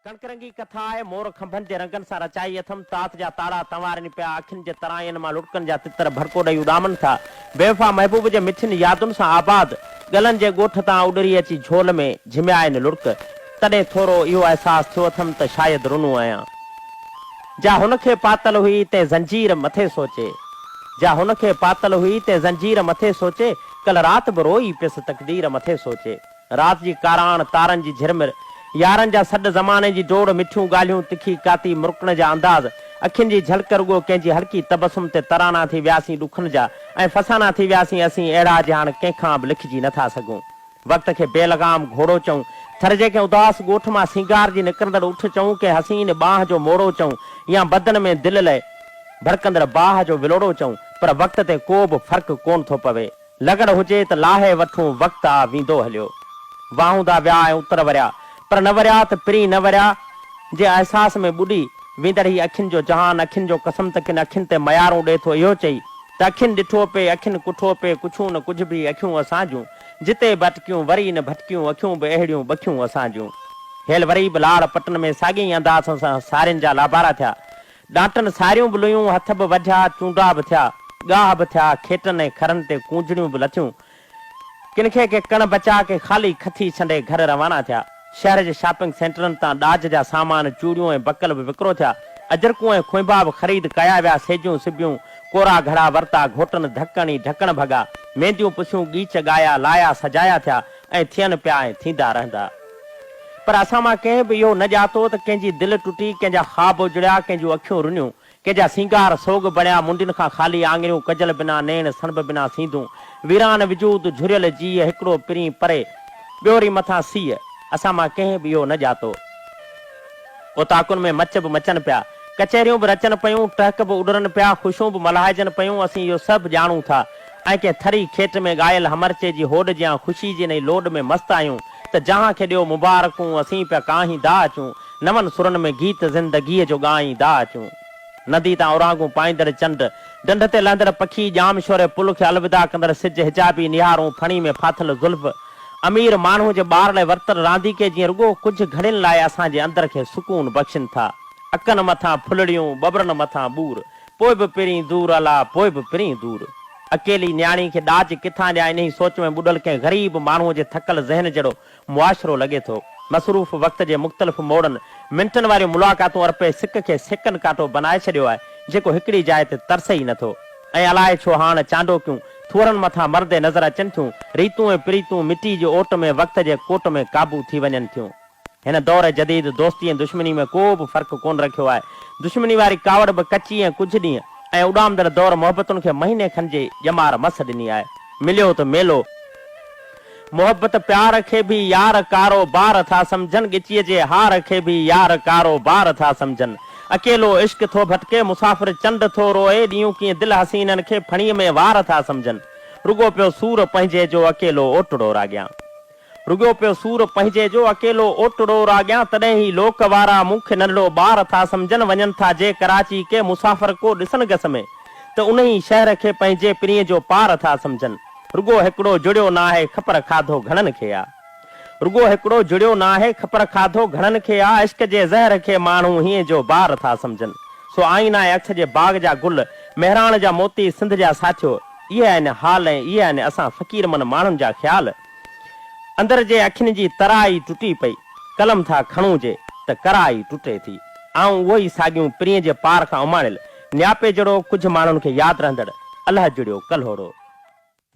ڪڻڪ رنگي ڪٿا آهي، مور کنڀن جي رنگن سان رچائي اٿم، تات جا تاڙا تنوارين پيا، اکين جي ترائين مان لڙڪن جا تتر ڀڙڪو ڏئي اڏامن ٿا، بيوفا محبوب جي مٺين يادن سان آباد، ڳلن جي ڳوٺ تان اڏري اچي جھول ۾ جھميائين لڙڪ، تڏهن ٿورو اهو احساس ٿيو اٿم ته شايد رنو آهيان. جا هن کي پاتل هئي، تنهن زنجير مٿي سوچي. جا هن کي پاتل هئي، تنهن زنجير مٿي سوچي، ڪل رات به روئي پيس تقدير مٿي سوچي. رات جي ڪاراڻ، تارن جي جھرمر، يارن جا سڏ، زماني جي ڊوڙ، مٺيون ڳالھيون، تکي ڪاتي، مرڪڻ جا انداز، اکين جي جھلڪ، رڳو ڪنھن جي ھلڪي تبسم تي ترانا ٿي وياسين ڏکن جا ۽ فسانا ٿي وياسين اسين اھڙا جي ھاڻ ڪنھن کان به لکجي نه ٿا سگھون. وقت کي بي لغام گھوڙو چئون، تھر جي ڪنھن اداس ڳوٺ مان سينگار جي نڪرندڙ اٺ چئون، ڪنھن حسين ٻانھن جو موڙو چئون يا بدن ۾ دل لئي ڀڙڪندڙ باھ جو ولوڙو چئون پر وقت تي ڪو به فرق ڪونه ٿو پوي. لغڙ هجي ته لاهي وٺون وقت آ ويندو هليو واهون دا ويا ۽ اتر وريا پر نه وريا ته پرين نه وريا جي احساس ۾ ٻڏي ويندڙ هي اکين جو جهان اکين جو قسم ته ڪن اکين تي ميارون ڏي ٿو اهو چئي ته اکين ڏٺو پئي اکين ڪٺو پئي ڪڇون نه ڪجهه به اکيون اسان جون جتي به اٽڪيون وري نه ڀٽڪيون اکيون به اهڙيون ٻکيون اسان جون هيل وري به لاڙ پٽن ۾ ساڳئي انداز سان سارين جا لابارا ٿيا ڏانٽن ساريون به لويون، هٿ به وڍيا، چونڊا به ٿيا، ڳاهه به ٿيا، کيٽن ۽ کرن تي ڪونجڙيون به لٿيون. ڪن کي ڪي ڪڻ بچا، ڪي خالي کٿي ڇنڊي گهر روانا ٿيا. شهر جي شاپنگ سينٽرن تان ڏاج جا سامان، چوڙيون ۽ بڪل به وڪرو ٿيا. اجرڪون ۽ کونبا به خريد ڪيا ويا، سيجون سبيون، ڪورا گهڙا ورتا، گهوٽن ڌڪڻ ئي ڍڪڻ ڀڳا، مينديون پسيون، ڳيچ ڳايا، لايا سجايا ٿيا ۽ ٿين پيا ۽ ٿيندا رهندا. پر اسان مان ڪنهن به اهو نه ڄاتو ته ڪنهن جي دل ٽٽي، ڪنهن جا خواب اجڙيا، ڪنهن جون اکيون رنيون، ڪنهن جا سينگار سوڳ بڻيا، منڊين کان خالي آڱريون، ڪجل بنا نيڻ، سڻڀ بنا سينڌون، ويران وجود، جهريل جيء، هڪڙو پرين پري، ٻيو ري مٿان سيء، اسان مان ڪنهن به اهو نه ڄاتو. اوطاقن ۾ مچ به مچن پيا، ڪچهريون به رچن پيون، ٽهڪ به اڏرن پيا، خوشيون به ملهائجن پيون، اسين اهو سڀ ڄاڻون ٿا، ۽ ڪنهن ٿري کيٽ ۾ ڳايل همرچي جي هوڏ جيان خوشي جي انهي لوڏ ۾ مست آهيون ته جهان کي ڏيو مبارڪون اسين پيا ڪاهين دا اچون نون سرن ۾ گيت زندگيء جو ڳائين دا اچون ندي تان اورانگون پائيندڙ چنڊ ڍنڍ تي لهندڙ پکي ڄام شوري پل کي الوداع ڪندڙ سج حجابي نهارون ڦڻي ۾ ڦاٿل زلف امير ماڻهو جي ٻار لاء ورتل رانديڪي جيئن رڳو ڪجهه گهڙين لاء اسان جي اندر کي سڪون بخشين ٿا اکن مٿان ڦلڙيون ٻٻرن مٿان ٻور پوء به پرين دور الا پوء به پرين دور. اڪيلي نياڻي کي ڏاج ڪٿان ڏيان انهي سوچ ۾ ٻڏل ڪنهن غريب ماڻهوء جي ٿڪل ذهن جهڙو معاشرو لڳي ٿو. مصروف وقت جي مختلف موڙن منٽن واريون ملاقاتون ارپي سڪ کي سيڪنڊ ڪانٽو بنائي ڇڏيو آهي جيڪو هڪڙي جاء تي ترسي ئي نٿو ۽ الائي ڇو هاڻ چانڊوڪيون ٿوهرن مٿان مردي نظر اچن ٿيون ريتون ۽ پريتون مٽي جي اوٽ ۾ وقت جي ڪوٽ ۾ قابو ٿي وڃن ٿيون. هن دور جديد دوستي ۽ دشمني ۾ ڪو به فرق ڪونه رکيو آهي. دشمني واري ڪاوڙ به ڪچي ۽ ڪجهه ڏينهن ۽ اڏامندڙ دور محبتن کي مهيني کن جي ڄمار مس ڏني آهي. مليو ته ميلو. محبت پيار کي به يار ڪارو بار ٿا سمجهن ڳچيء جي هار کي به يار ڪارو بار ٿا سمجهن اڪيلو عشق ٿو ڀٽڪي مسافر چنڊ ٿو روئي ڏينهون ڪيئن دل حسينن کي ڦڻي ۾ وار ٿا سمجهن رڳو پيو سور پنهنجي جو اڪيلو اوٽڙو راڳيان رڳيو پيو سور پنهنجي جو اڪيلو اوٽڙو راڳيان تڏهن هي لوڪ وارا مون کي ننڍڙو ٻار ٿا سمجهن وڃن ٿا جي ڪراچي ڪي مسافر ڪو ڏسن گس ۾ ته انهي شهر کي پنهنجي پرينء جو پار ٿا سمجهن رڳو هڪڙو جڙيو ناهي خپر کاڌو گهڻن کي آ رڳو هڪڙو جڙيو ناهي خپر کاڌو گهڻن کي آ عشق جي زهر کي ماڻهو هينء جو بار ٿا سمجهن سو آئين آهي اکس جي باغ جا گل مهراڻ جا موتي سنڌ جا ساٿيو اهي آهن حال ۽ اهي آهن اسان فقير من ماڻهن جا خيال. اندر جي اکين جي ترا ئي ٽٽي پئي، قلم ٿا کڻون جي ته ڪرا ئي ٽٽي ٿي. آئون اهو ئي ساڳيون پرينء جي پار کان اماڻيل نياپي جهڙو ڪجهه ماڻهن کي ياد رهندڙ الهه جڙيو ڪلهوڙو.